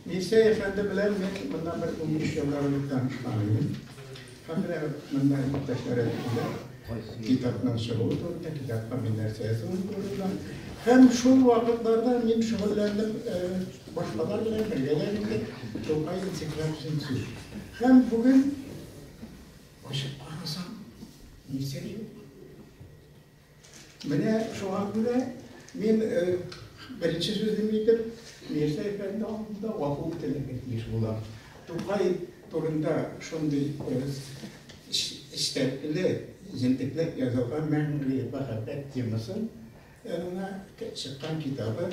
Мирсәй әфәнде белән мин моннан бер унбиш еллар элек танышкан идем. Хәзер монда иптәшләр әйткәндә, китапның чыгуы турында, китапка мин нәрсә язуым турында. Һәм шул вакытларда мин шөгыльләндем э, башкалар белән бергә дә инде Тукай энциклопедиясен сүз. Һәм бүген ачык карасам, Мирсәй юк. Менә шуңа күрә мин беренче сүзем итеп Мирза әфәнде алдында гафу үтенергә тиеш булам. Тукай турында шундый эчтәлекле, җентекләп язылган мәңге мәхәббәт темасын чыккан китабы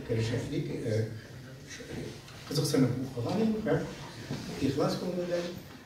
керешәклек кызыксынып укыган идем һәм ихлас күңелдән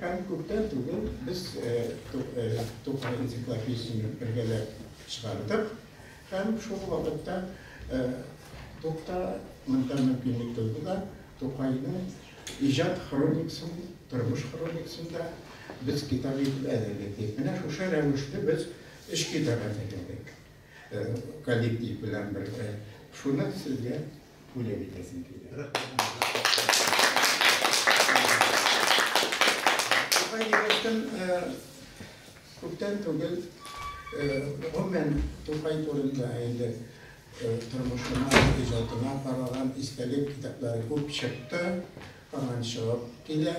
Һәм күптән түгел без Тукай энциклопедиясен бергәләп чыгардык. Һәм шул вакытта Тукта монда мөмкинлек туды да, Тукайның иҗат хроникасын, тормыш хроникасын да без китап итеп әзерләдек. Менә шушы рәвешле без өч китап әзерләдек коллектив белән бергә. Шуны сезгә бүләк итәсем килә. Күптән түгел, гомумән, Тукай турында инде тормышына, иҗатына караган истәлек китаплары күп чыкты, һаман чыгып килә.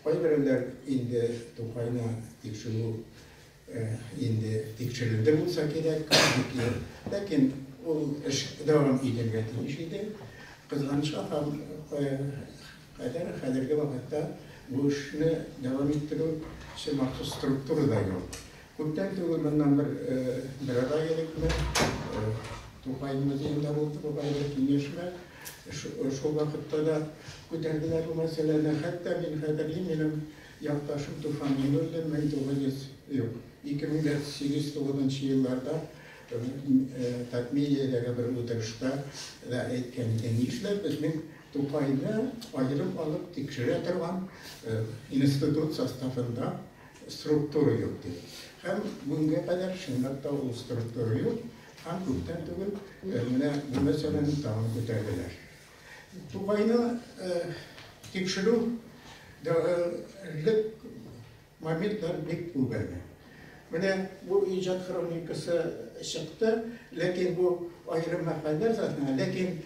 Кайберәүләр инде Тукайны тикшерү инде тикшерелде булса кирәк, ләкин ул эш дәвам итәргә тиеш иде. Кызганычка кадәр хәзерге вакытта бу эшне дәвам иттерү өчен махсус структура да юк. Күптән түгел моннан бер бер ай элек Тукай музеенда булды бу бәйле киңәшмә. Шул вакытта да күтәрделәр бу мәсьәләне. Хәтта мин хәтерлим, минем Якташым Туфан Минуллин мең тугыз йөз, юк, ике мең дә сигез тугызынчы елларда Татмедиядәге бер утырышта да әйткән иде, нишләп мин Тукайны аерым алып тикшерә торган институт составында структура юк дип. Һәм бүгенгә кадәр чынлап та ул структура юк, һәм күптән түгел менә бу мәсьәләне тагын күтәрделәр. Тукайны тикшерү дәвалык моментлар бик күп әле. Менә бу иҗат хроникасы чыкты, ләкин бу аерым мәкаләләр затына, ләкин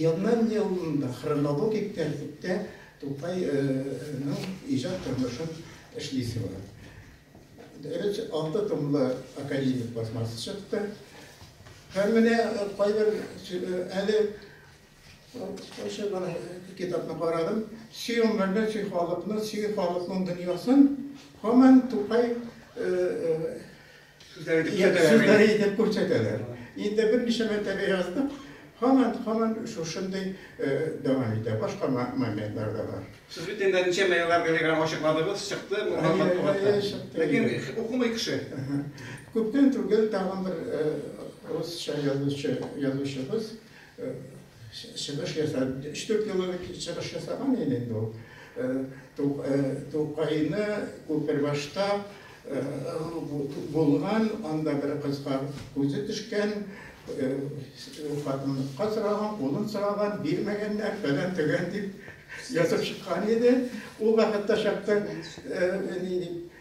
елнан-елны хронологик тәртиптә Тукайның иҗат тормышын эшлисе бар. Беренче алты томлы академик басмасы чыкты. Һәм менә кайбер әле шушы гына китапны карадым. Чи гомерне, чи халыкны, чи халыкның дөньясын һаман Тукай сүзләре итеп күрсәтәләр. Инде берничә мәртәбә яздык, һаман, һаман шушындый дәвам итә. Башка моментлар да бар. Сез бит инде ничәмә еллар Гөлеграм ачыкладыгыз, чыкты бу матбугатта. Ләкин укымый кеше. Күптән түгел тагын бер русча язучы, язучыбыз чыгыш ясап, 3-4 еллар чыгыш ясаган иде инде ул. Тукайны Күпербашта булган, анда бер кызга күзе төшкән, хатынлыкка сораган, кулын сораган, бирмәгәннәр, фәлән-төгән дип. Язып чыккан иде, ул вакытта чакта, ни дип,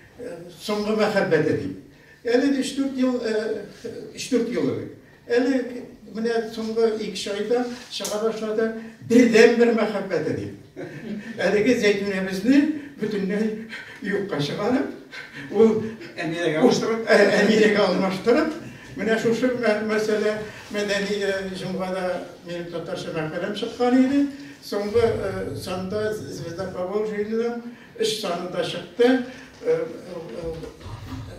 соңгы мәхәббәте дип. Әле өч-дүрт ел, өч-дүрт ел элек. Әле менә соңгы ике айда чыга башлады, бердәнбер мәхәббәте дип. Әлеге Зәйтүнәбезне бөтенләй юкка чыгарып, ул Әмирәгә алмаштырып, Әмирәгә алмаштырып, менә шушы мәсьәлә мәдәни җомгада минем татарча мәкаләм чыккан иде. Соңгы санда Звезда Поволжьеның өч саны да чыкты.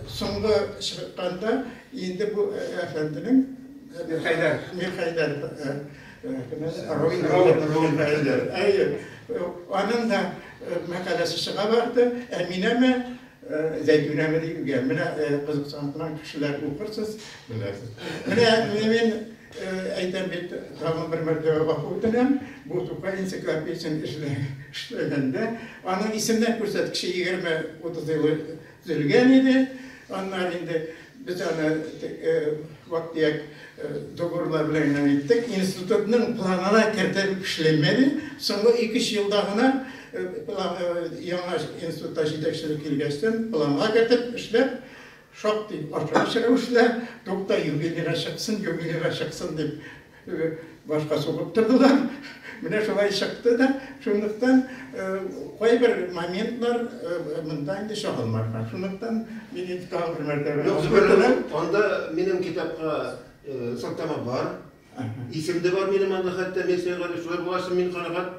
Соңгы чыкканда инде бу әфәнденең Мирхәйдәр. Мирхәйдәр. Әйе. Аның да мәкаләсе чыга барды. Әминәме, Зәйтүнәме дип, менә кызыксанган кешеләр укырсыз, белерсез. Менә мин Әйтәм бит, тагын бер мәртәбә гафу үтенәм, бу Тукай энциклопедиясен эшләгәндә, аның исемнәр күрсәткече 20-30 елы төзелгән иде. Аннары инде без аны вак-төяк договорлар белән генә иттек. Институтның планына кертеп эшләмәде. Соңгы 2-3 елда гына яңа институтта җитәкчелек килгәчтен планга кертеп эшләп, Шактый башкача рәвештә, Тукта, юбилейга чыксын, юбилейга чыксын, дип башка сугып тордылар. Менә шулай чыкты да. Шунлыктан кайбер моментлар монда инде чагылмаган. Шунлыктан мин инде тагын бер мәртәбә. Юк, Зөфәр абый, анда минем китапка сылтама бар. Исем дә бар минем анда хәтта, мин Сәйгалишулар булачым, мин канәгать.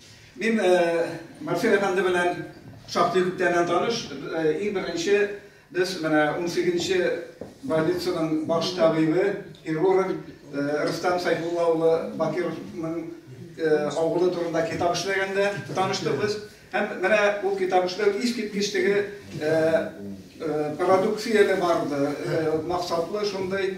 Мин Марсель әфәнде белән шактый күптәннән таныш. Иң беренче без менә 18-нче больницаның баш табибы, хирург Рустам Сайфулла улы Бакировның авылы турында китап эшләгәндә таныштык без. Һәм менә ул китап эшләү искиткеч теге продукцияле барды, максатлы шундый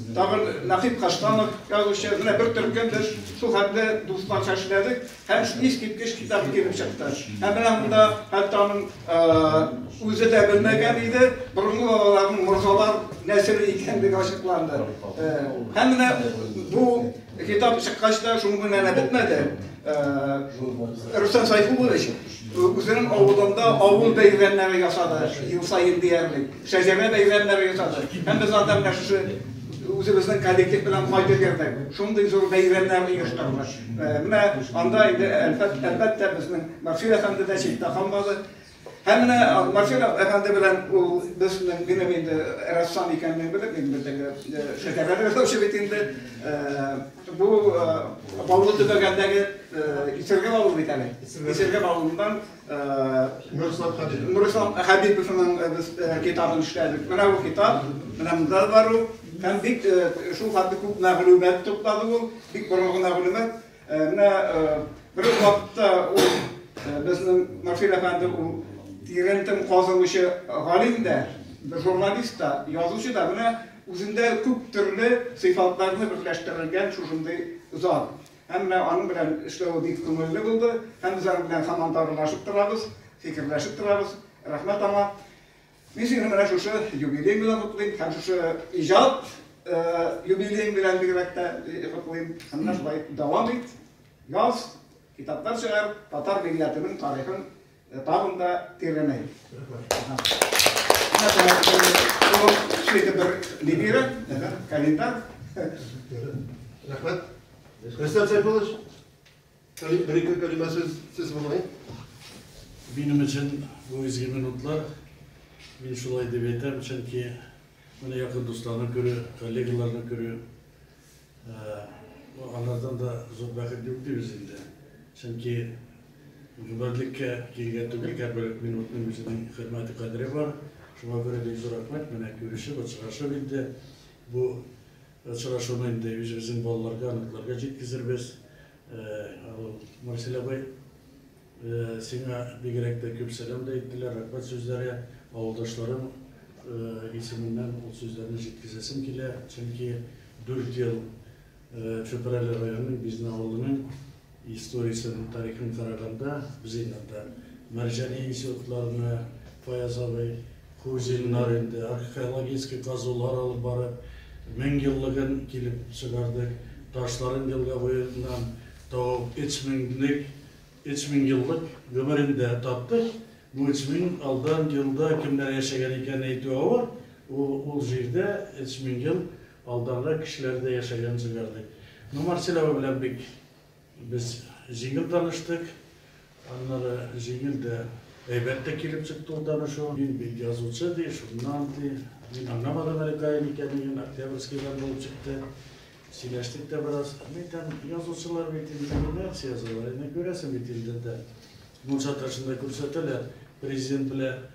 Тагын Нәкыйп Каштанов, язучы, менә бер төркем без шул хәтле дусларча эшләдек һәм искиткеч китап килеп чыкты. Һәм менә монда хәтта аның үзе дә белмәгән иде, борынгы бабаларның морзалар нәселе икәнлеге ачыкланды. Һәм менә бу Китап чыккач та шуның белән генә бетмәде. Рөстәм Сайфуллович үзенең авылында авыл бәйрәмнәре ясады, ел саен диярлек. Шәҗәрә бәйрәмнәре ясады. Һәм без анда менә шушы үзебезнең коллектив белән кайтып йөрдек. Шундый зур бәйрәмнәр оештырдык. Менә анда инде әлбәттә безнең Максим әфәнде дә читтә калмады. Һәм менә Марселов әфәнде белән ул безнең минем инде рәссам икәнлеген белеп, мин бездәге шәһәрләрдә яшәүче бит инде. Бу Баулы төбәгәндәге Исергә Баулы бит әле. Исергә Баулыдан Нурислам Хәбиб. Нурислам Хәбиповның без китабын эшләдек. Менә бу китап, менә монда бар ул. Һәм бик шул хәтле күп мәгълүмат туплады ул, бик борынгы мәгълүмат. Ә менә бер үк вакытта ул безнең Марфил әфәнде ул тирәнтем казымычы галим дә, журналист та, язучы да. Менә үзендә күп төрле сыйфатларны берләштерелгән шушындый зал. Һәм менә аның белән эшләве бик күңелле булды. Һәм без аның белән һаман дарулашып торабыз, фикерләшеп торабыз. Рәхмәт аңа. Мин сине менә шушы юбилей белән котлыйм һәм шушы иҗат юбилеең белән бигрәк тә котлыйм. Һәм шулай дәвам ит, яз, китаплар чыгар, татар милләтенең тарихын тагын да тирәнәй. Шушы бер либера, календарь. Рәхмәт. Рәхмәт, Сәйфуллович. Бер-ике кәлимә сүз булгай. Минем өчен бу изге минутлар. Мин шулай дип әйтәм, чөнки менә якын дусларны күрү, коллегаларны күрү, алардан да зур бәхет юк дибез инде. Чөнки гомерлеккә килгән түгел, һәрбер минутның үзенең хөрмәте, кадере бар. Шуңа күрә бик зур рәхмәт, менә күрешеп, очрашып инде бу Очрашуны инде үзебезнең балаларга, оныкларга җиткезербез. Марсель абый, сиңа бигрәк тә күп сәлам дә әйттеләр, рәхмәт сүзләре. Авылдашларым исеменнән ул сүзләрне җиткезәсем килә, чөнки дүрт ел Чүпрәле районының Бизне авылының Историясен, тарихын караганда, без инде анда Мәрҗани институтларына, Фаяз абый, Кузиннар инде археологический казулар алып барып, меңьеллыгын килеп чыгардык. Ташларын елга буеннан табып, өч меңлек, өч меңьеллык гомерендә таптык. Бу өч мең алдан елда кемнәр яшәгән икәнен әйтү авыр, ул җирдә өч меңьел Алдагы кешеләр дә яшәгән җирләр дип. Ну, Марселява белән бик без җиңел таныштык. Аннары җиңел дә, әйбәт тә килеп чыкты ул танышу. Мин бит язучы, ди, шуннан, ди. Мин аңламадым әле каян икәнлеген, Октябрьскийдан булып чыкты. Сөйләштек тә бераз. Мин әйтәм, язучылар бит инде редакция язалар, әнә күрәсең бит инде дә, мунча ташында күрсәтәләр, президент белән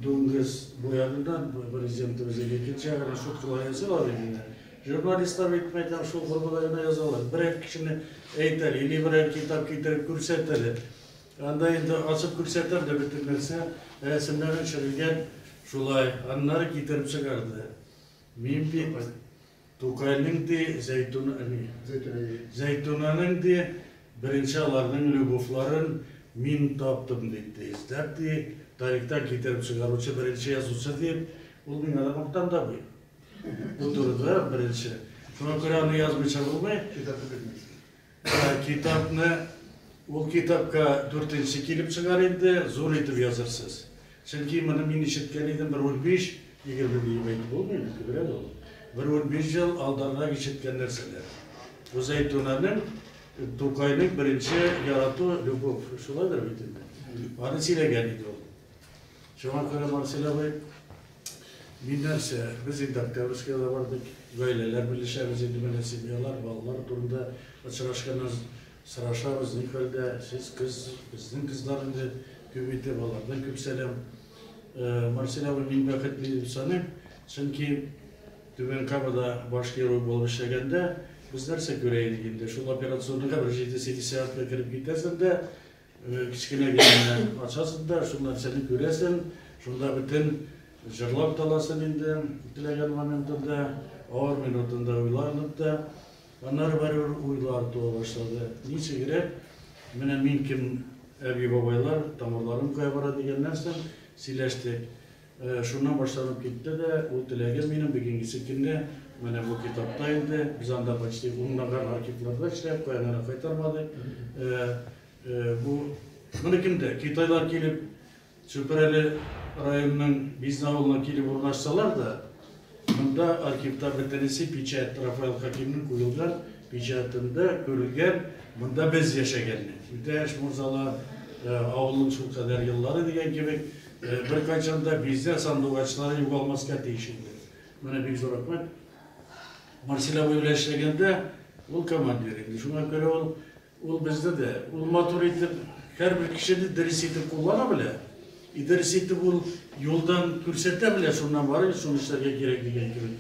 Дуңгыз буяды да Президентыбыз иде, икенче ягына шул кулай язалар иде дә. Журналистлар бит мәйтәм шул формада гына язалар. Берәр кешене әйтәр, или берәр китап китереп күрсәтәр. Анда инде ачып күрсәтәр дә бөтен нәрсә, рәсемнәре төшерелгән шулай. Аннары китереп чыгарды. Мин бит Тукайның ди, Зәйтүн, әни. Зәйтүнә ди. Зәйтүнәнең ди, беренче аларның любовьларын мин таптым дип ди, эзләп ди, тарихтан китереп чыгаручы беренче язучы дип, ул миңа да мактан да бу. Бу турыда беренче. Шуңа күрә аны язмыйча булмый. Китапны бирмәгез. Китапны ул китапка дүртенче килеп чыгар инде, зур итеп язырсыз. Чөнки моны мин ишеткән идем бер унбиш, егерме диеп әйтеп булмый инде, күбрәк ул. Бер унбиш ел алданрак ишеткән нәрсәләр. Бу Зәйтүнәнең Тукайның беренче ярату, любовь, шулайдыр бит инде. Аны сөйләгән иде ул. Шуңа күрә, Марсель абый, мин нәрсә, без инде Октябрьскига да бардык, гаиләләр белешәбез инде, менә семьялар, балалар турында очрашканнан сорашабыз, ни хәлдә, сез кыз, безнең кызлар инде күп иде, алардан күп сәлам. Марсель абый, мин бәхетле дип саныйм, чөнки Түбән Камада баш хирург булып эшләгәндә, без нәрсә күрә идек инде, шул операционныйга бер җиде-сигез сәгатькә кереп китәсең дә, Кечкенә генә ачасың да, шул нәрсәне күрәсең, шунда бөтен җырлап таласың инде, теләгән моментында, авыр минутында уйланып та. Аннары барыбер уйлар туа башлады. Ничегрәк менә мин кем, әби-бабайлар, тамырларым кая бара дигән нәрсә сөйләштек. Шуннан башланып китте дә, ул теләгем минем бигиңгесе килне, менә бу китапта инде, без анда почти унлаган архивларда эшләп, каянара кайтармадык. Бу, моны кемдә, китайлар килеп, Чүпрәле районының Бизне авылына килеп урнашсалар да, Монда архивтагы Тенеси печать, Рафаэль Хәкимнең куелган печатендә күрелгән Монда без яшәгәнне, Үтәш морзалы авылын шул кадәр еллары дигән кебек, беркайчан да бизә сандугачлары югалмаска тиеш инде. Менә бик зур рәхмәт. Марсель абый белән эшләгәндә, ул командир иде, шуңа күрә ул Ул безне дә, ул матур итеп, һәрбер кешене дөрес итеп куллана белә. И дөрес итеп ул юлдан күрсәтә белә, шуннан барыгыз, шуны эшләргә кирәк дигән кебек.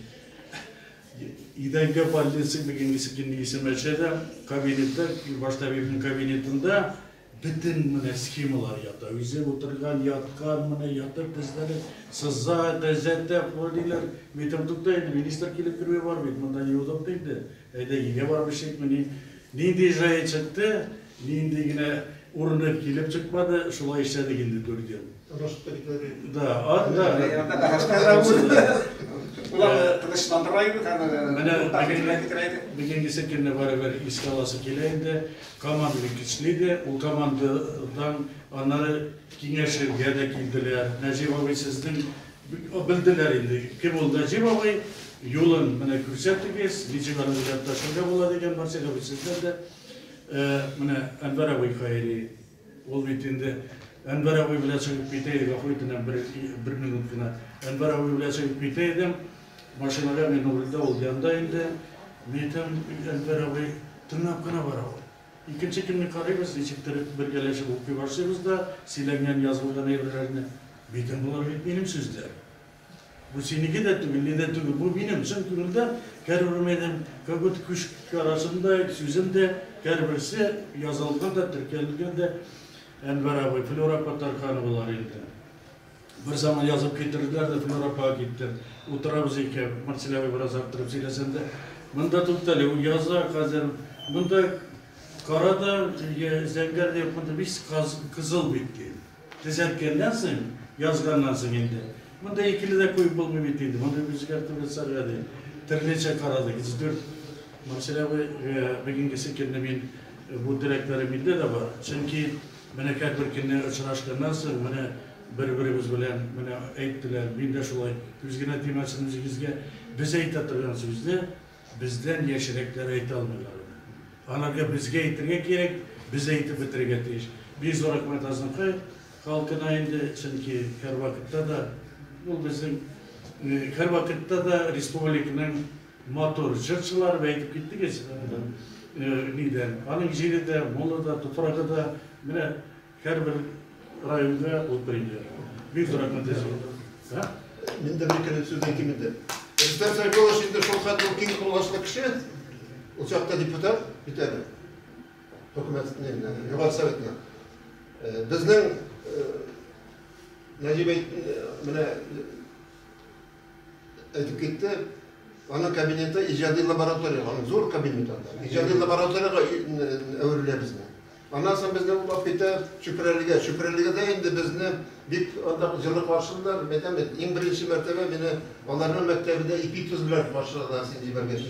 Идәнгә больница дигән кисекенде исемәчә дә, кабинетта, баш табибның кабинетында бөтен менә схемалар ята. Үзе утырган, яткан, менә ятып безләре сыза, төзәтә, фолилар. Мин әйтәм, тукта инде, министр килеп керүе бар бит, монда юдык инде. Әйдә, өйгә барып эчәйкмени? Нинди җае чыкты, нинди генә урыны килеп чыкмады, шулай эшләдек инде дүрт ел. Да, ат, да. Бүгенгесе көнне барыбер искә аласы килә инде. Команда бик көчле иде. Ул командадан аннары киңәшергә дә килделәр. Нәҗип абый, сезнең Белделәр инде кем ул Нәҗип абый, юлын менә күрсәтегез, ничек аны эзләп ташларга була дигән барсы да сездән дә менә Әнвәр абый Хаири, ул бит инде Әнвәр абый белән чыгып китә иде, гафу итенә бер минут кына, Әнвәр абый белән чыгып китә идем, машинага мин рульдә, ул янда инде, мин әйтәм, Әнвәр абый тыңлап кына бара ул. Икенче көнне карыйбыз, ничектер бергәләшеп укый башлыйбыз да, сөйләнгән, язылган әйберләрне, Бәйтәм, болар бит минем сүзләр. Бу синеке дә түгел, ни дә түгел, бу минем чын күңелдән кәр үрмәдем, как будто күч карашындай сүзем дә, кәрберсе язылган да, теркәлгән дә, Әнвәр абый, Флюра Патархановалар инде. Берзаман язып китерделәр дә Флюр апага китте. Утырабыз икәү, Марсель абый бераз арттырып сөйләсәм дә, Монда туктале, ул яза хәзер. Монда кара да, зәңгәр дә юк, монда весь кызыл бит, ди. Төзәткәннән соң, язганнан соң инде. Монда икеле дә куеп булмый бит инде, моны үзгәртеп ясарга, ди. Төрлечә карадык, ике дүрт. Марсель абый, бүгенгесе көнне мин бу теләкләрем миндә дә бар. Чөнки Бәләкәй бер көнне очрашканнан соң, менә бер-беребез белән менә әйттеләр, мин дә шулай, күз генә тимәсен үзегезгә, без әйтә торган сүзне бездән яшьрәкләр әйтә алмыйлар иде. Аларга безгә әйтергә кирәк, без әйтеп бетерергә тиеш. Бик зур рәхмәт Азнакай халкына инде, чөнки һәрвакытта да ул безнең, һәрвакытта да республиканың, Матур, җырчылар да әйтеп киттегез, нидән, аның җире дә, моңы да, туфрагы да, менә һәрбер районда ул премия. Бик зур рәхмәт әзер. Мин дә бер кенә сүз әйтим инде. Рөстәм Сәйфуллович инде шул хәтле киң колачлы кеше, ул чакта депутат бит әле, хөкүмәт, Югары Советына. Безнең Нәҗип әйт, менә, Әйтеп китте. Аның кабинеты иҗади лаборатория, аның зур кабинет анда. Иҗади лабораториягә әверелә безне. Аннан соң безне ул алып китә Чүпрәлегә. Чүпрәлегедә инде безне бик анда җылы каршылар. Мин әйтәм бит, иң беренче мәртәбә мине аларның мәктәбендә ипи-тоз белән каршыладылар, син җибәргәч,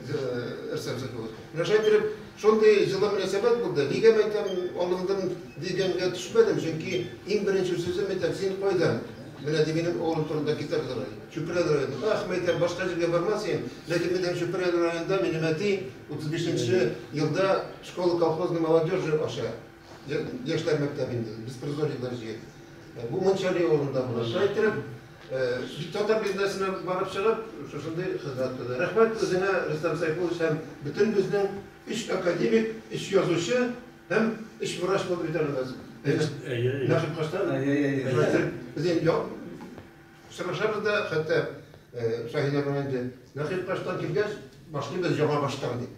Рөстәм Закирович. Менә шулай итеп Шундый җылы мөнәсәбәт булды. Нигә мәйтәм алындым дигәнгә төшмәдем, чөнки иң беренче сүзем мәйтәм син кайдан? Менә ди минем авылым турында китап язарга. Чүпрәле районы. Ах, мәйтәм, башка җиргә бармас идем, ләкин мәйтәм Чүпрәле районында минем әти 35 нче елда школа колхозный молодежи ача. Яшьләр мәктәбендә беспризорниклар җыеп, бу Манчжари авылында була. Шулай иттереп, бит татар бизнесына барып чыгып, шушындый хезмәт кылды. Рәхмәт үзеңә, Рөстәм Сәйфуллович, һәм бөтен безнең өч академик, өч язучы һәм өч врач булып бит әле без. Әйе, әйе. Нәкъ каштан. Әйе, әйе. Шулай итеп, без инде Сорашабыз да, хәтта Шаһинә апа инде Нәкыйп баштан килгәч, башлыйбыз яңа баштан дип.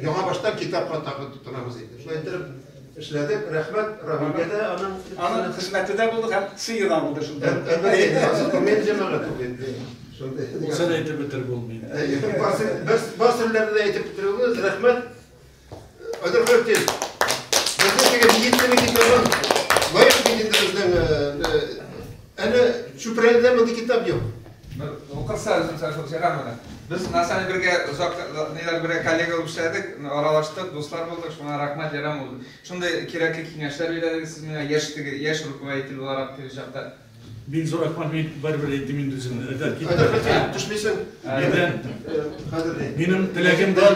Яңа баштан китапка тагы тотынабыз инде. Шулай итеп эшләдек. Рәхмәт Равилгә дә, аның аның хезмәте дә булды һәм сыйы да булды шунда. Мен җәмәгать ул инде. Шундый. Үзен әйтеп бетереп булмый. Барсын, без барсын белән әйтеп бетерүгез, рәхмәт. Хәзер хөртез. Безнең теге медицина китабын лайык бит инде безнең әле чүпрәледә мондый китап юк. Укырса үзем сәшүк җырамына. Без Насаны бергә озак ниләр бергә коллега булып эшләдек, аралаштык, дуслар булдык, шуңа рәхмәт ярам ул. Шундый кирәкле киңәшләр бирәләр сез миңа яшьтеге, яшь руководитель буларак теге чакта. Мин зуракман, мин барыбер әйттем инде үземне. Әйдә, кит. Әйдә, кит, төшмисең. Әйдә. Кадерле. Минем теләгем дә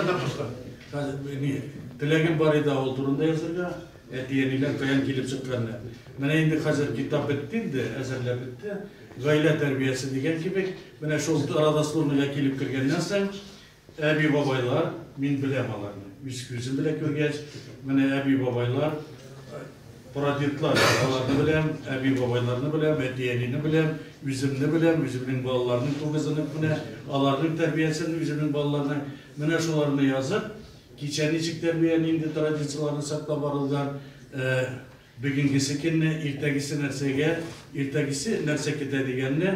Теләгем бар иде авыл турында язырга, әти-әниләр каян килеп чыкканны. Менә инде хәзер китап бетте инде, әзерләп бетте. Гаилә тәрбиясе дигән кебек, менә шул арада службага килеп кергәннән соң, Әби-бабайлар, мин беләм аларны, үз күзем белән күргәч, менә әби-бабайлар, прадедлар, аларны беләм, әби-бабайларны беләм, әти-әнине беләм, үземне беләм, үземнең балаларның тугызынып менә, аларның тәрбиясен, үземнең балаларның, менә шуларны язып, кичә ничек тәрбия, нинди традицияләрне саклап барылган, Бүгенгесе көнне, иртәгесе нәрсәгә, иртәгесе нәрсә көтә дигәнне,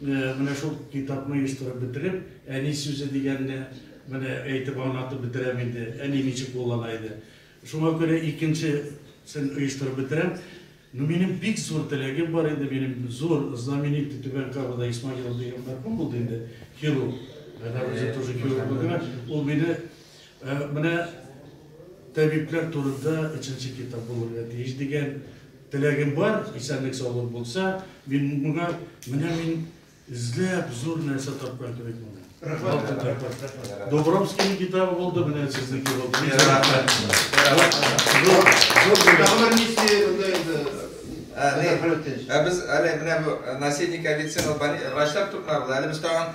менә шул китапны оештырып бетереп, әни сүзе дигәнне менә әйтеп аңлатып бетерәм инде, әни ничек куллана иде. Шуңа күрә икенчесен оештырып бетерәм. Ну, минем бик зур теләгем бар иде, минем зур знаменитый Түбән Кабада Исмагилов дигән мәрхүм булды инде, хирург. Әнә үзе тоже хирург булды. Ул мине Ә менә табиблар турында өченче китап булырга тиеш дигән теләгем бар, исәнлек-саулык булса, мин моңа менә мин эзләп зур нәрсә тапкан кебек булдым. Рәхмәт. Добровскийның китабы булды, менә сезнеке булды. Рәхмәт. Зур гомер миссия монда инде. Ә без әле менә бу наследник авицин врачлар турында булды. Әле без тагын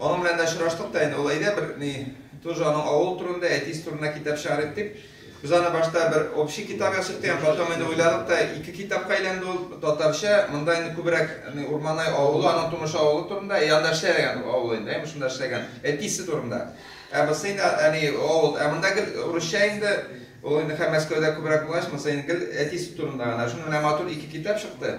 Аның белән дә очраштык та инде, ул әйдә бер ни, тоже аның авыл турында, әтисе турында китап чыгарыйк дип. Без аны башта бер общий китап язып торган, потом инде уйладык та ике китапка әйләнде ул, татарча, монда инде күбрәк ни Урманай авылы, аның тумыш авылы турында, и анда эшләгән авыл инде, әйме шунда эшләгән, әтисе турында. Ә бусы инде әни авыл, ә монда гел урысча инде, ул инде хәм Мәскәүдә күбрәк булгач, монысы инде гел әтисе турында гына. Шуны менә матур ике китап чыкты.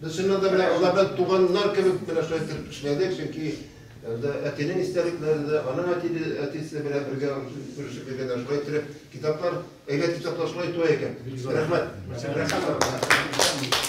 Без чыннан да менә алардан туганнар кебек менә шулай итеп эшләдек, чөнки әтинең истәлекләре дә, аның әтине әтисе белән бергә күрешеп йөргәндә шулай итеп китаплар, әйбәт китаплар шулай туа икән. Рәхмәт. Рәхмәт.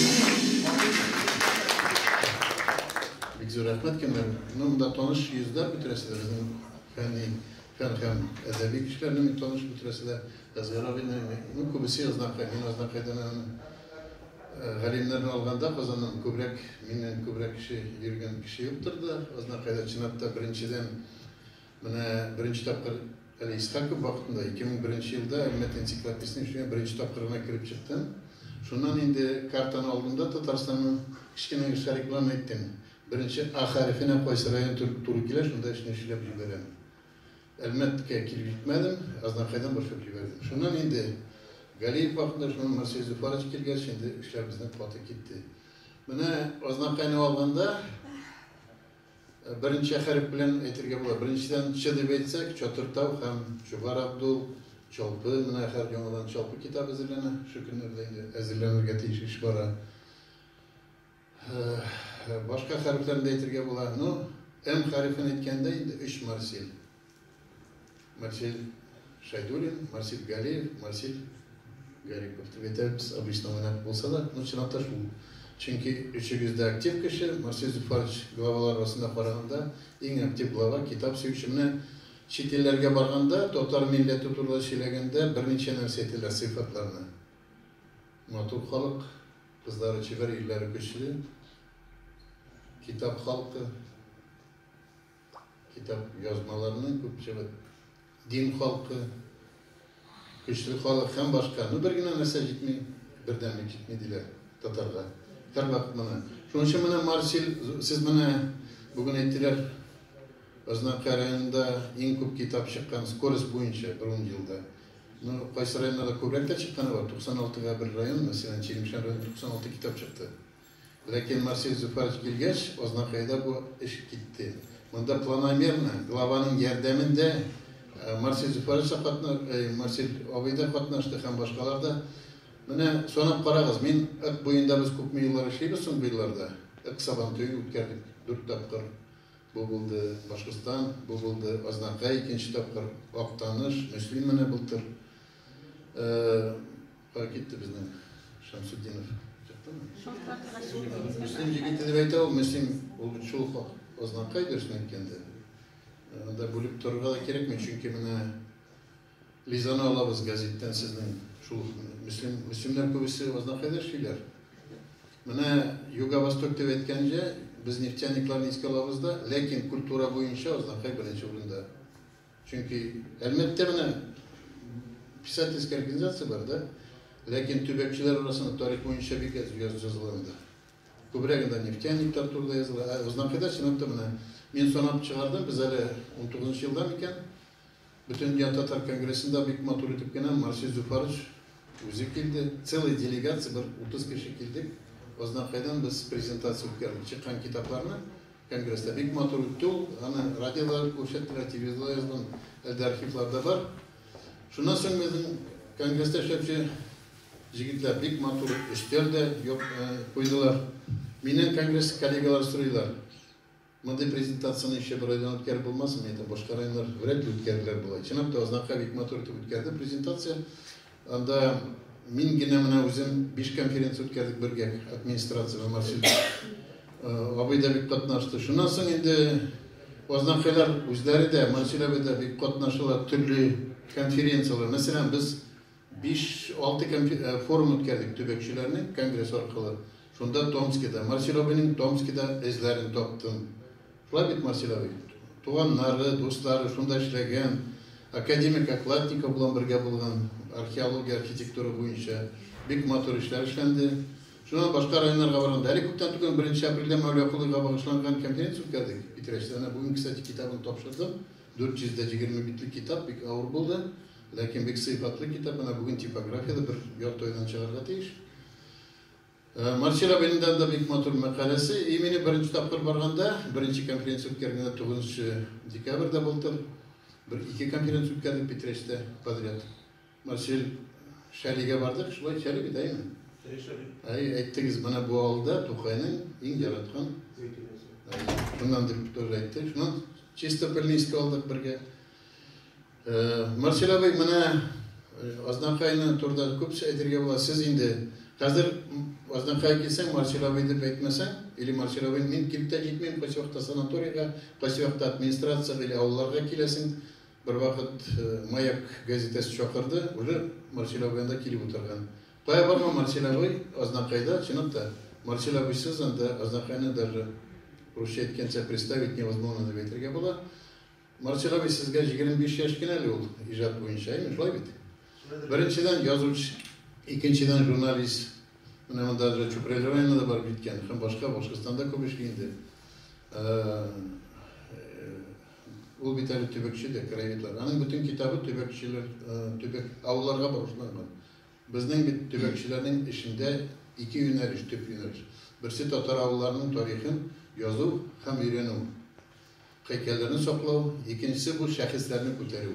Бик зур рәхмәт, Кәмәр. Ну, монда таныш йөзләр бетерәсе, безнең фәнни, фән һәм әдәби кешеләрне бик таныш бетерәсе дә. Әсгар абыйны, ну, күбесе Азнакай, мин Азнакайдан аның галимнәрен алганда Казаннан күбрәк, миннән күбрәк кеше йөргән кеше юктыр да, Азнакайда, чынлап та, беренчедән, Менә беренче тапкыр, әле искә күп вакытында, 2001 нче елда Әлмәт энциклопедиясенең эшенә беренче тапкыр гына кереп чыктым. Шуннан инде картаны алдым да Татарстанның кечкенә генә шарикыларын әйттем. Беренче А хәрефенә кайсы район туры килә, шунда эшне эшләп җибәрәм. Әлмәткә килеп җитмәдем, Азнакайдан башлап җибәрдем. Шуннан инде Галиев вакытында, шуннан Марсель Зөфарович килгәч, инде эшләр безнең каты китте. Менә Азнакайны алганда, Беренче хәреф белән әйтергә була. Беренчедән Ч дип әйтсәк, Чатыртау һәм Чубар Абдул, Чалпы, менә хәзер яңадан Чалпы китабы әзерләнә. Шушы көннәрдә инде әзерләнергә тиеш эш бара. Башка хәрефләрне дә әйтергә була. Ну, М хәрефен әйткәндә инде өч марсель. Марсель Шәйдуллин, Марсель Галеев, Марсель Гарипов дип әйтәбез, обычно монак булса да, но чынлапта шул. Чөнки өчегез дә актив кеше, Марсель Зөфарович главалар арасында караганда иң актив глава, китап сөюче. Менә чит илләргә барганда, татар милләте турында сөйләгәндә берничә нәрсә әйтәләр, сыйфатларны. Матур халык, кызлары чибәр, ирләре көчле, китап халкы. Китап язмаларының күпчелек дин халкы, көчле халык һәм башка. Ну бер генә нәрсә җитми, бердәмлек җитми диләр татарда. Һәрвакыт моны. Шуның өчен менә Марсель, сез менә бүген әйттеләр, Азнакай районында иң күп китап чыккан скорость буенча бер ун елда. Ну, кайсы районнарда күбрәк тә чыкканы бар. 96 га бер район, мәсәлән, Чирмешән районы 96 китап чыкты. Ләкин Марсель Зөфәрович килгәч, Азнакайда бу эш китте. Монда планомерно, главаның ярдәмендә Марсель Зөфәрович та катна, Марсель абый да катнашты һәм башкалар да. Менә санап карагыз, мин Ык буенда без күпме еллар эшлибез соң бу елларда? Ык Сабантуен үткәрдек дүрт тапкыр. Бу булды Башкортстан, бу булды Азнакай, икенче тапкыр Актаныш, Мөслим менә былтыр. Кая китте безнең Шәмсетдинов? Чыктымы? Мөслим җигете дип әйтә ул, Мөслим ул бит шул ук Азнакай дөресен әйткәндә. Анда бүлеп торырга да кирәкми, чөнки менә Лизаны алабыз газеттан сезнең шул ук Мөслим, Мөслимнәр күбесе Азнакайда эшлиләр. Менә Юго-Восток дип әйткәнчә, без нефтяникларны искә алабыз да, ләкин культура буенча Азнакай беренче урында. Чөнки Әлмәттә менә писательская организация бар, да? Ләкин төбәкчеләр арасында тарих буенча бик әз языла анда. Күбрәк анда нефтяниклар турында языла. Ә Узнакайда чынлап та менә мин санап чыгардым, без әле 19 елда микән Бөтендөнья татар конгрессында бик матур итеп кенә Марсель Зуфарович үзе килде. Целый делегация, бер 30 кеше килдек. Узнакайдан без презентация үткәрдек. Чыккан китапларны Конгресс та бик матур үтте ул. Аны радиода да күрсәттеләр, телевизорда язган, әле дә архивларда бар. Шуннан соң безнең конгресста эшләүче җегетләр бик матур өстәл дә куйдылар. Миннән конгресс коллегалар сорыйлар, мондый презентацияне ничә бер районнан үткәреп булмасмы? Мин әйтәм, башка районнар вряд ли үткәрерләр болай. Чынлап та, Азнакай бик матур итеп үткәрде презентация. Анда мин генә менә үзем биш конференция үткәрдек бергә администрация белән Марсель абый да бик катнашты. Шуннан соң инде Ознакайлар үзләре дә Марсель абый да бик катнашалар төрле конференцияләр. Мәсәлән, без 5-6 форум үткәрдек төбәкчеләрнең конгресс аркылы. Шунда Томскида, Марсель абыйның Томскида эзләрен таптым. Шулай бит, Марсель абый? Туганнары, дуслары шунда эшләгән, академик Окладников белән бергә булган, археология, архитектура буенча бик матур эшләр эшләнде. Шуннан башка районнарга барганда, әле күптән түгел, беренче апрельдә Мәүлә Колыйга багышланган конференция үткәрдек Питрәчтә. Әнә бүген, кстати, китабын тапшырдым. 420 битлек китап, бик авыр булды, ләкин бик сыйфатлы китап. Әнә бүген типографиядә бер ярты айдан чыгарга тиеш. Марсель абыйның да анда бик матур мәкаләсе. И мине беренче тапкыр барганда, беренче конференция үткәргәндә тугызынчы декабрьдә былтыр бер ике конференция үткәрдек Питрәчтә подряд. Марсель Шәлигә бардык, шулай Шәли бит, әйеме? Әйе, Шәли. Әйе, әйттегез, менә бу авылда Тукайның иң яраткан зәйтүнәсе. Әйе, шуннан дип тоже әйтте. Шуннан Чистопыльнинскига алдык бергә. Марсель абый, менә Азнакайны турында күп әйтергә була. Сез инде хәзер Азнакайга килсәң, Марсель абый дип әйтмәсәң, или Марсель абый, мин килеп тә җитмим, кайсы вакытта санаторийга, кайсы вакытта администрациягә или авылларга киләсең. Бервакыт Маяк газетасы чакырды, уже Марсель абый анда килеп утырган. Кая барма, Марсель абый Азнакайда, чынлап та, Марсель абыйсыз анда Азнакайны даже русча әйткәнчә представить невозможно дип әйтергә була. Марсик абый, сезгә җигерме биш яшь кенә әле ул, иҗат буенча, әйме, шулай бит? Беренчедән, язучы, икенчедән, журналист. Менә монда Джа Чүпрәле районына да барып җиткән һәм башка, Башкортстанда күп эшли инде. Ул бит әле төбәкче дә, краеведлар. Аның бөтен китабы төбәкчеләр, төбәк, авылларга багышланган. Безнең бит төбәкчеләрнең эшендә ике юнәлеш, төп юнәлеш. Берсе татар авылларының тарихын язу һәм өйрәнү. Һәйкәлләрне саклау, икенчесе бу шәхесләрне күтәрү.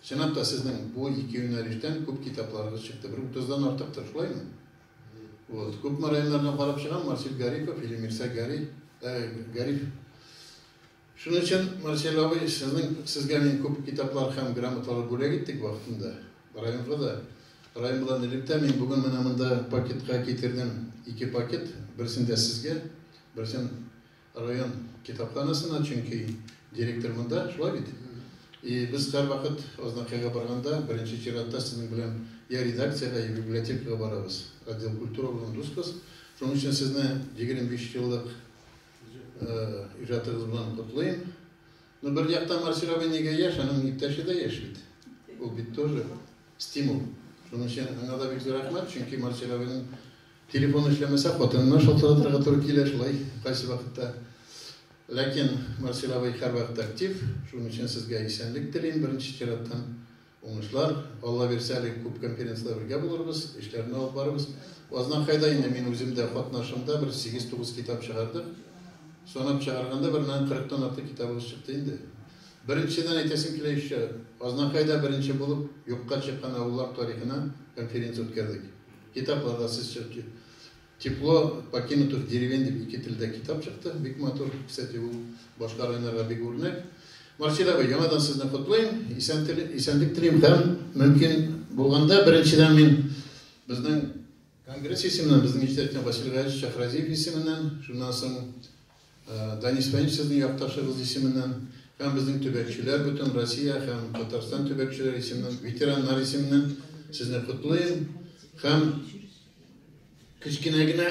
Чынлап та, сезнең бу ике юнәлештән күп китапларыгыз чыкты, бер утыздан артыктыр, шулаймы? Вот. Күпме районнардан карап чыгам, Марсель Гарипов или Мирсәй Гари, э, Гариф. Шуның өчен, Марсель абый, сезнең, сезгә мин күп китаплар һәм грамоталар бүләк иттек вакытында. Районга да, район белән элемтә, мин бүген менә монда пакетка китердем ике пакет, берсен дә сезгә, берсен Район китапханасына, чөнки директор монда, шулай бит? И без һәрвакыт Азнакайга барганда, беренче чиратта сезнең белән я редакциягә, я библиотекага барабыз. Отдел культуры белән дусбыз. Шуның өчен сезне 25 еллык иҗатыгыз белән котлыйм. Ну бер яктан Марселева нигә яшь, аның иптәше дә яшь бит. Ул бит тоже стимул. Шуның өчен аңа да бик зур рәхмәт, чөнки Марселеваның телефон эшләмәсә, хатынына шалтыратырга туры килә шулай кайсы вакытта. Ләкин Марселева һәрвакыт актив, шуның өчен сезгә исәнлек телим беренче чираттан. Уңышлар, Алла бирсә әле күп конференцлар бергә булырбыз, эшләрне алып барырбыз. Азна хайда инде мин үзем дә катнашымда бер сигез тугыз китап чыгардык. Санап чыгарганда бер мең кырык тан артык китабыбыз чыкты инде. Беренчедән әйтәсем килә еще, Азна хайда беренче булып юкка чыккан авыллар тарихына конференция үткәрдек. Китаплар да сез Тепло покинутых деревень дип ике телдә китап чыкты. Бик матур. Кстати, ул башка районнарга бик үрнәк. Марсель абый, яңадан сезне котлыйм. Исән теле, исәнлек телим һәм мөмкин булганда, беренчедән мин безнең конгресс исеменнән, безнең иҗтиһадчан Василий Гаязович Шәхразиев исеменнән, шуннан соң Данис Фәнис сезнең якташыгыз исеменнән һәм безнең төбәкчеләр, бөтен Россия һәм Татарстан төбәкчеләре исеменнән, ветераннар исеменнән сезне котлыйм һәм кечкенә генә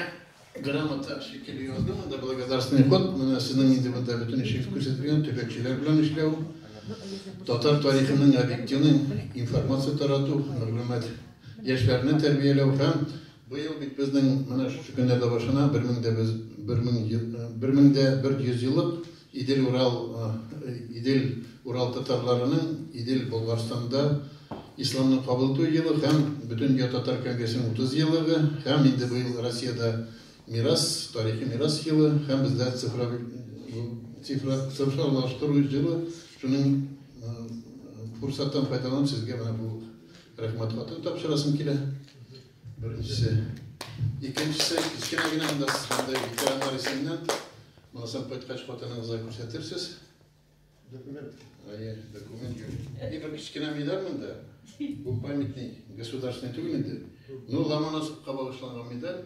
грамота шикелле яздым анда благодарственный ход. Менә сезнең инде монда бөтен эшегез күрсәтелгән, төбәкчеләр белән эшләү, татар тарихының объективный информация тарату, мәгълүмат, яшьләрне тәрбияләү һәм Быел бит безнең менә шушы көннәрдә башына бер мең дә без бер мең бер мең дә бер йөзьеллык Идел-Урал Идел-Урал татарларының Идел Болгарстанда исламны кабул итү елы һәм Бөтендөнья татар конгрессының утыз еллыгы һәм инде быел Россиядә мирас, тарихи мирас елы һәм бездә цифровик цифра цифрлаштыру җылы шуның фурсаттан файдаланып сезгә менә бу Рәхмәт хатын тапшырасым килә. Беренчесе. Икенчесе, кечкенә генә анда сез андый ветераннар исеменнән. Монысам кайткач хатыныгызга күрсәтерсез. Документ. Әйе, документ. И бер кечкенә медаль монда. Бу памятник государственный түгел инде. Ну, Ломоносовка багышланган медаль.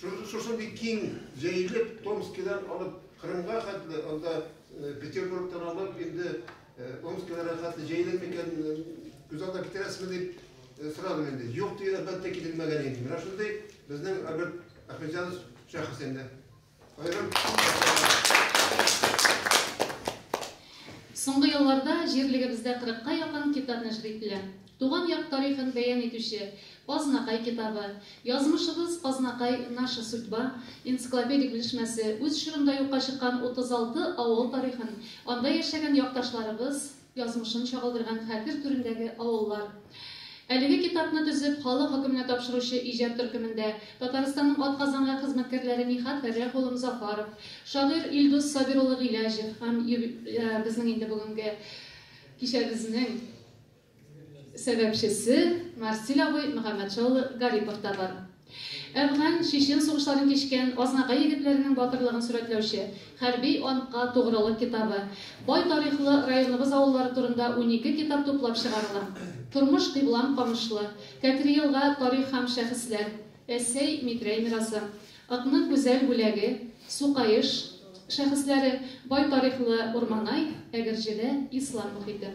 Шушындый киң җәелеп, Томскидан алып Кырымга хәтле, анда Петербургтан алып инде Омскиларга хәтле җәелер микән, күз алдына китерәсезме дип сорадым инде. Юк дип, әлбәттә, китермәгән идем. Менә шундый безнең Альберт Әхмәтҗанов шәхес инде. Аерым Соңгы елларда җирлегебездә 40 ка якын китап нәшер ителә. Туган як тарихын бәян итүче Азнакай китабы, Язмышыбыз, Азнакай, наша судьба, энциклопедик белешмәсе, үз чорында юкка чыккан 36 авыл тарихын, анда яшәгән якташларыбыз язмышын чагылдырган хәтер түрендәге авыллар. Әлеге китапны төзеп, халык хөкеменә тапшыручы иҗат төркемендә Татарстанның атказанган хезмәткәрләре Нихат Фәррәх улы Мзафаров, шагыйрь Илдус Сабир улы Гыйләҗев һәм юб безнең инде бүгенге кичәбезнең Сәбәпчесе Марсиль абый Мөхәммәтша улы Гарипов та бар. Әфган, чечен сугышларын кичкән Азнакай егетләренең батырлыгын сурәтләүче Хәрби антка тугрылык китабы, бай тарихлы районыбыз авыллары турында унике китап туплап чыгарыла. Тормыш кыйблам Камышлы, Кәкре Елга тарих һәм шәхесләр, Әсәй, Митрәй мирасы, Ыкның гүзәл бүләге, Сукаеш шәхесләре, бай тарихлы Урманай, Әгерҗедә ислам мохите.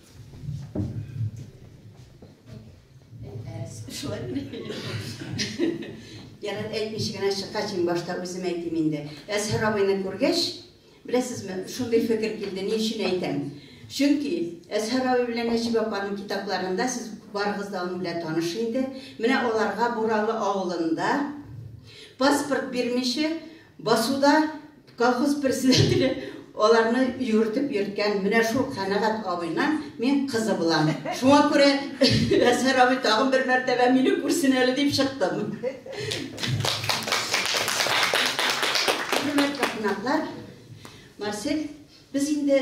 Шулай Ярат әйтмичә генә чыккач, мин башта үзем әйтим инде. Әзһәр абыйны күргәч, беләсезме, шундый фикер килде, ни өчен әйтәм? Чөнки Әзһәр абый белән Нәҗиб апаның китапларында сез барыгыз да аның белән таныш инде. Менә аларга Буралы авылында паспорт бирмичә Басуда колхоз председателе аларны юертеп йөрткән менә шул Канәгать абыйның мин кызы булам. Шуңа күрә Әсәр абый тагын бер мәртәбә мине күрсен әле дип чыктым. Хөрмәтле кунаклар, Марсель, без инде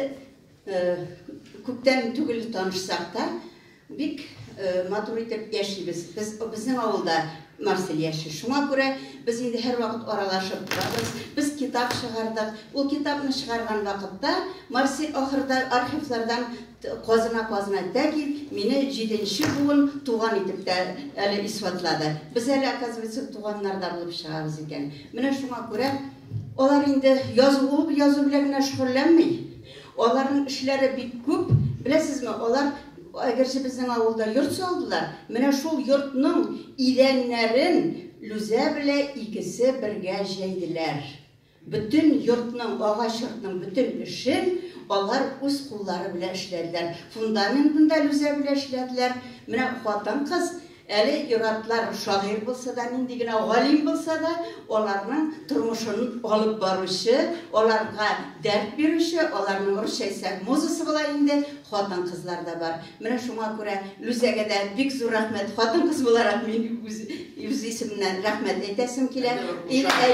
Күптән түгел танышсак та, бик матур итеп яшибез. Без, безнең авылда Марсель яши. Шуңа күрә без инде һәрвакыт аралашып торабыз. Без китап чыгардык. Ул китапны чыгарган вакытта Марсель ахырда архивлардан казына-казына тәки мине җиденче буын туган итеп тә әле исбатлады. Без әле, оказывается, туганнар да булып чыгабыз икән. Менә шуңа күрә Алар инде язылу язу белән генә шөгыльләнми. Аларның эшләре бик күп. Беләсезме, алар әгерҗе безнең авылда йорт салдылар, менә шул йортның идәннәрен Лүзә белә икесе бергә җәйделәр. Бөтен йортның, агач йортның бөтен эшен алар үз куллары белән эшләделәр. Фундаментын да Лүзә белә эшләделәр. Менә хатын-кыз Әле ир-атлар шагыйрь булса да, нинди генә галим булса да, аларның тормышын алып баручы, аларга дәрт бирүче, аларның русча әйтсәк музасы була инде, хатын-кызлар да бар. Менә шуңа күрә Лүзәгә дә бик зур рәхмәт. Хатын-кыз буларак мин үз, үз исемнән рәхмәт әйтәсем килә. Ир, әй...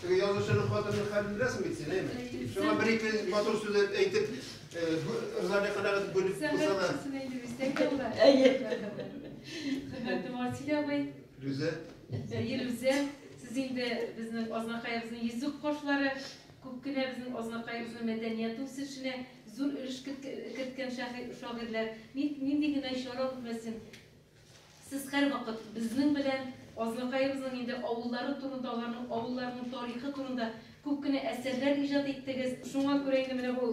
Теге язучының хатынының хәлен беләсең бит син, әйме? Шуңа бер-ике матур сүз әйтеп, ризалык канәгать бүлеп кылсалар. Әйе. Хөрмәтле Марсель абый. Люзә. Әйе, Люзә. Сез инде безнең Азнакаебызның йөзек кошлары, күп кенә безнең Азнакаебызның мәдәният үсешенә зур өлеш керткән шагыйрьләр. Нинди генә чара үтмәсен, Сез һәрвакыт безнең белән Азнакаебызның инде авыллары турында, аларның авылларының тарихы турында күп кенә әсәрләр иҗат иттегез. Шуңа күрә инде менә бу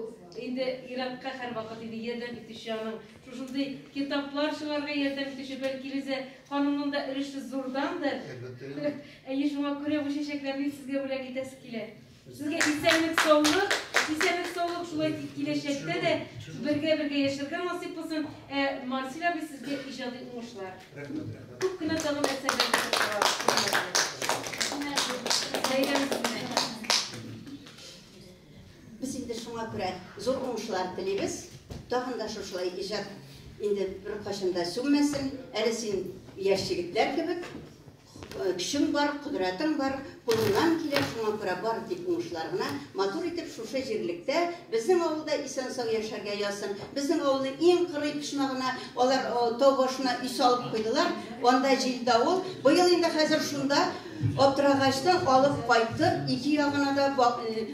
инде Иратка һәрвакыт инде ярдәм итүче аның, шушындый китаплар чыгарырга ярдәм итүче, бәлки, Илүзә ханымның да өлеше зурдандыр? Әлбәттә инде. Әйе, шуңа күрә бу чәчәкләрне сезгә бүләк итәсе килә. Сезгә исәнлек саулык, исәнлек саулык шулай киләчәктә дә бергә бергә яшәргә насыйп булсын. Ә Марсель абый сезгә иҗади уңышлар. Рәхмәт, рәхмәт. Күп кенә тагын әсәрләр. Без инде шуңа күрә зур уңышлар телибез. Тагын да шушылай иҗат инде бер кашында сүнмәсен. Әле син яшь егетләр кебек. Көчем бар, кодрәтем бар, кулымнан килә, шуңа күрә бары тик уңышлар гына, матур итеп шушы җирлектә, безнең авылда исән-сау яшәргә язсын. Безнең авылның иң кырый почмагына алар тау башына өй салып куйдылар, анда җил давыл, быел инде хәзер шунда аптырагачтан алып кайттык, ике ягына да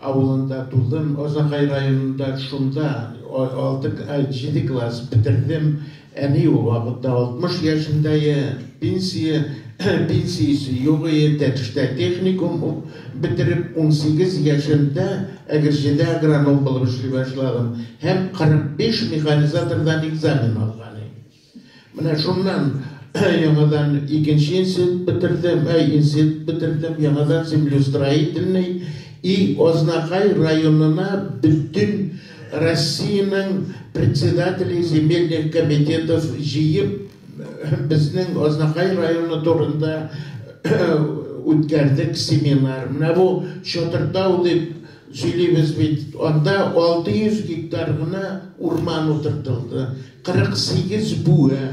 авылында тудым, Азакай районында шунда алты, җиде класс бетердем, әни ул вакытта 60 яшендәе, пенсия, пенсиясе юк ие, Тәтештә техникум ук бетереп, унсигез яшемдә Әгерҗедә агроном булып эшли башладым һәм 45 механизатордан экзамен алган ие. Менә шуннан яңадан икенче институт бетердем, ә институт бетердем, яңадан землеустроительный и Азнакай районына бөтен Россиянең председателе земельных комитетов җыеп безнең Азнакай районы турында үткәрдек семинар. Менә бу Чатыртау дип Сөйлибез бит, анда 600 гектар гына урман утыртылды, 48 бүе.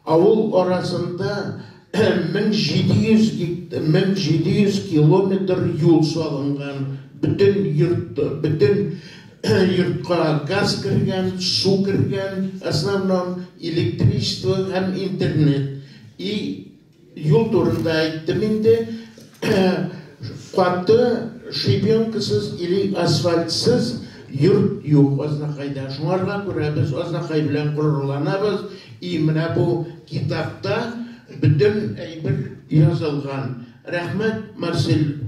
Авыл арасында 1700 километр юл салынган, бөтен йортка газ кергән, су кергән, основном, электричество һәм интернет. И Юл турында әйттем инде. Каты шибенкасыз или асфальтсыз йорт юк Азнакайда. Шуңарга күрә без Азнакай белән горурланабыз. И менә бу китапта бөтен әйбер язылган. Рәхмәт, Марсель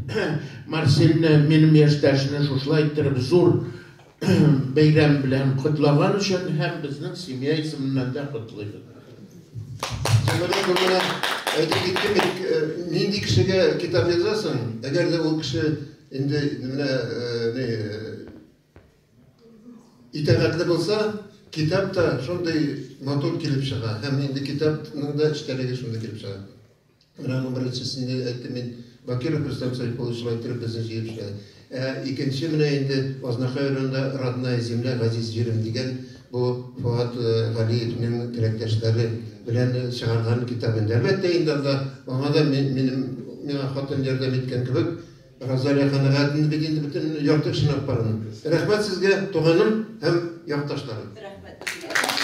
Марсельне, минем яшьтәшне шушылай иттереп зур бәйрәм белән котлаган өчен һәм безнең семья исеменнән дә котлыйбыз. Сәләмә гомерә әйтеп киттем бит, э, нинди кешегә китап язасың, әгәр дә ул кеше инде менә э, не э, итәгатьле булса, китап та шундый матур килеп чыга һәм инде китапның да эчтәлеге шундый килеп чыга. Менә аның беренчесендә әйттем мин, Бакиров Рөстәм Сәйфуллович шулай иттереп безне җыеп эшләде. Ә икенче менә инде Азнакай районында Родная земля, Газиз җирем дигән бу Фоат Галиевнең теләктәшләре белән чыгарган китабы инде. Әлбәттә инде анда аңа да минем, миңа хатын ярдәм иткән кебек, Розалия канәгать инде бит инде бөтен ярты эшен алып барган. Рәхмәт сезгә, туганым һәм якташларым. Рәхмәт.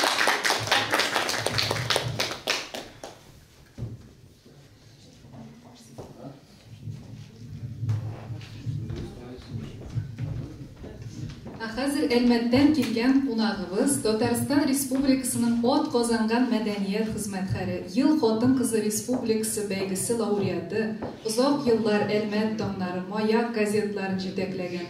Хәзер Әлмәттән килгән кунагыбыз Татарстан Республикасының от казанган мәдәният хезмәткәре, Ел хатын кызы республикасы бәйгесе лауреаты, озак еллар Әлмәт таңнары, Маяк газетларын җитәкләгән,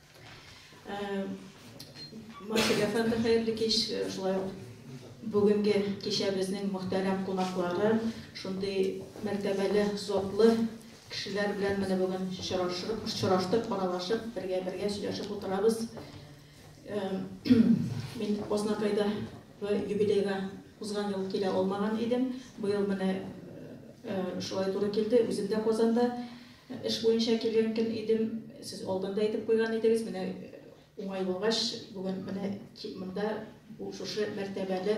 Марсель әфәнде, хәерле кич. Шулай ук бүгенге кичәбезнең мөхтәрәм кунаклары, шундый мәртәбәле, затлы кешеләр белән менә бүген очрашып, очраштык, аралашып, бергә-бергә сөйләшеп утырабыз. Мин Ознакайда юбилейга узган ел килә алмаган идем. Быел менә шулай туры килде. Үзем дә Казанда Эш буенча килгән көн идем, сез алдан да әйтеп куйган идегез, менә уңай булгач, бүген менә тик монда бу шушы мәртәбәле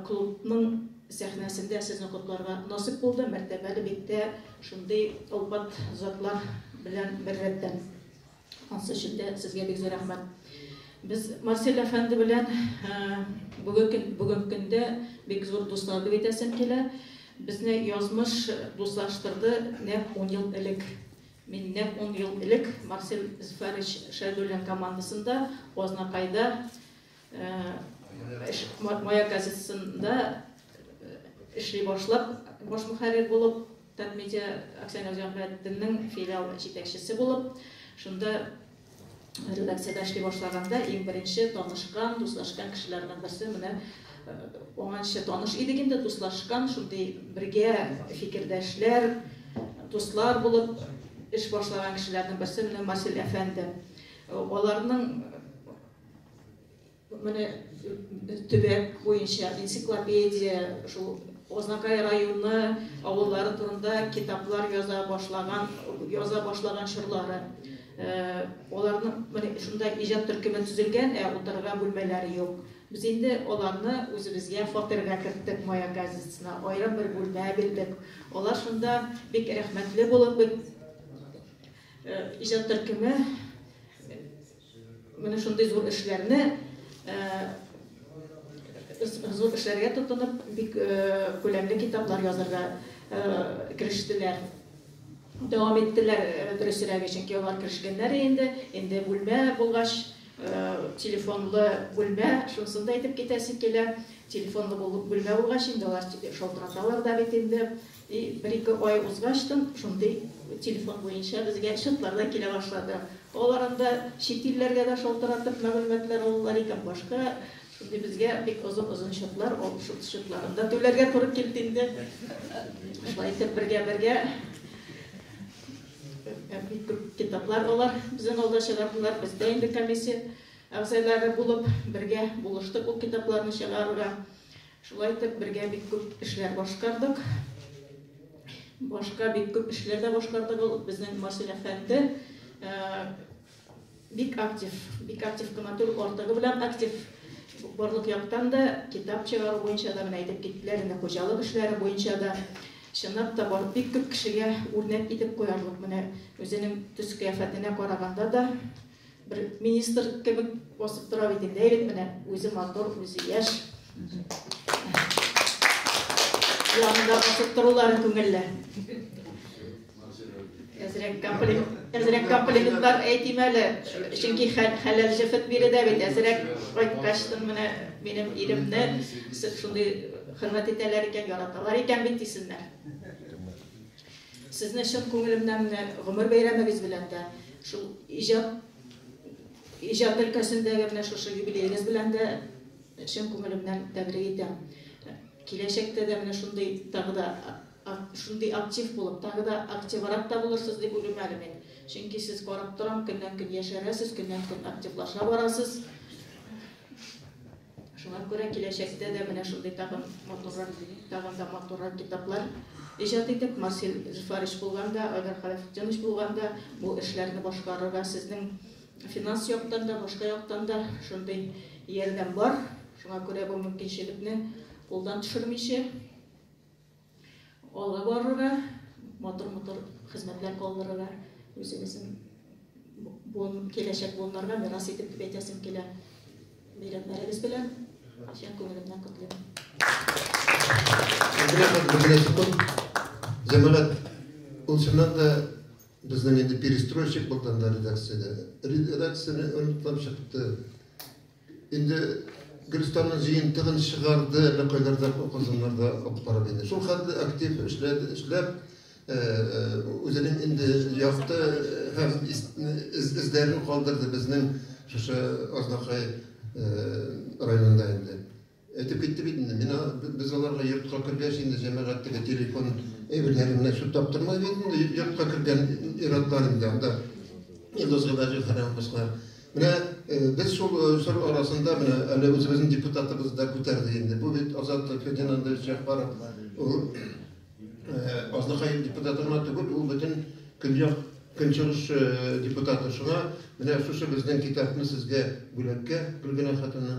клубның сәхнәсендә сезне котларга насыйп булды, мәртәбәле биктә шундый олпат затлар белән беррәттән. Ансы өчен дә сезгә бик зур рәхмәт. Без Марсель әфәнде белән бүгенге көндә бик зур дуслар дип әйтәсем килә. Безне язмыш дуслаштырды нәкъ 10 ел элек. Мин нәкъ 10 ел элек Марсель Зфарич Шәйдуллин командасында Азнакайда Мая газетасында эшли башлап, баш мөхәррир булып, Татмедиа акционер җәмгыятенең филиал җитәкчесе булып, шунда редакциядә эшли башлаганда иң беренче танышкан, дуслашкан кешеләрнең берсе менә оңанчы таныш идек инде, дуслашкан, шундый бергә фикердәшләр, дуслар булып эш башлаган кешеләрнең берсе менә Марсель әфәнде. Аларның Менә төбәк буенча энциклопедия, шул Азнакай районы авыллары турында китаплар яза башлаган, яза башлаган чорлары. Аларны менә шунда иҗат төркеме төзелгән, ә утырырга бүлмәләре юк. Без инде аларны үзебезгә фатирга керттек Мая газетасына, аерым бер бүлмә бирдек. Алар шунда бик рәхмәтле булып, иҗат төркеме, Менә шундый зур эшләрне, зур эшләргә тотынып, бик күләмле китаплар язырга керештеләр. Дәвам иттеләр, дөресрәге, чөнки алар керешкәннәр инде. Инде бүлмә булгач, телефонлы бүлмә, шунысын да әйтеп китәсе килә. Телефонлы бүлмә булгач, инде алар шалтыраталар да бит инде. И бер-ике ай узгач тын шундый телефон буенча безгә счетлар да килә башлады. Алар анда чит илләргә дә шалтыратып мәгълүматлар алалар икән, башка шундый безгә бик озын-озын счетлар, ул счетларын да түләргә туры килде инде. Шулай итеп бергә-бергә бик күп китаплар алар безнең алда чыгардылар, без дә инде комиссия әгъзалары булып бергә булыштык ул китапларны чыгаруга. Шулай итеп, бергә бик күп эшләр башкардык. Башка бик күп эшләр дә башкарды ул безнең Васил әфәнде. Бик актив, бик актив кына түгел, артыгы белән актив. Барлык яктан да, китап чыгару буенча да, менә әйтеп киттеләр инде, хуҗалык эшләре буенча да. Чынлап та, бар, бик күп кешегә үрнәк итеп куярлык. Менә үзенең төс-кыяфәтенә караганда да, Бер министр кебек басып тора бит инде. Әйдик менә, үзе матур, үзе яшь. Янында басып торулары күңелле. Әзрәк комплект, әзрәк комплиментлар әйтим әле. Чөнки хәләл җефет биредә бит әзрәк кайткачтын менә минем иремне шундый хөрмәт итәләр икән, яраталар икән бит дисеннәр. Сезне чын күңелемнән менә гомер бәйрәмегез белән дә, шул иҗат, иҗат өлкәсендәге менә шушы юбилеегыз белән дә чын күңелемнән тәбрик итәм. Киләчәктә дә менә шундый тагы да шундый актив булып, тагы да активрак та булырсыз дип уйлыйм әле мин. Чөнки сез карап торам, көннән-көн яшәрәсез, көннән-көн активлаша барасыз. Шуңа күрә киләчәктә дә менә шундый тагын матуррак, тагын да матуррак китаплар иҗат итеп, Марсель Зөфәрич булган да, Айдар Хәләфетдинович булган да, бу эшләрне башкарырга сезнең финанс яктан да, башка яктан да шундый ярдәм бар. Шуңа күрә бу мөмкинчелекне кулдан төшермичә, Алга барырга, матур-матур хезмәтләр калдырырга, үзебезнең буын, киләчәк буыннарга мирас итеп дип әйтәсем килә. Бәйрәмнәрегез белән чын күңелемнән котлыйм. Җәмәгать, ул чыннан да безнең инде перестройщик булганда редакциядә. Редакцияне оныткан чыкты. Инде Гөлстанның җыентыгын чыгарды, әллә кайларда укызымнарда укып барып инде. Шул хәтле актив эшләде, эшләп, үзенең инде якты һәм эзләрен калдырды безнең шушы Азнакай районында инде. Әйтеп китте бит инде, мин без аларга йортка кергәч инде җәмәгатьтәге телефон әйберләре менә шул таптырмай бит инде йортка кергән ир-атлар инде анда Илдус Гыйбаҗев һәм башкалар. Менә без шул чор арасында менә әле үзебезнең депутатыбыз да күтәрде инде. Бу бит Азат Фердинандович Җәгъфаров. Ул Азнакай депутаты гына түгел, ул бөтен Көньяк Көнчыгыш депутаты. Шуңа менә шушы безнең китапны сезгә бүләккә Гөлгенә хатыны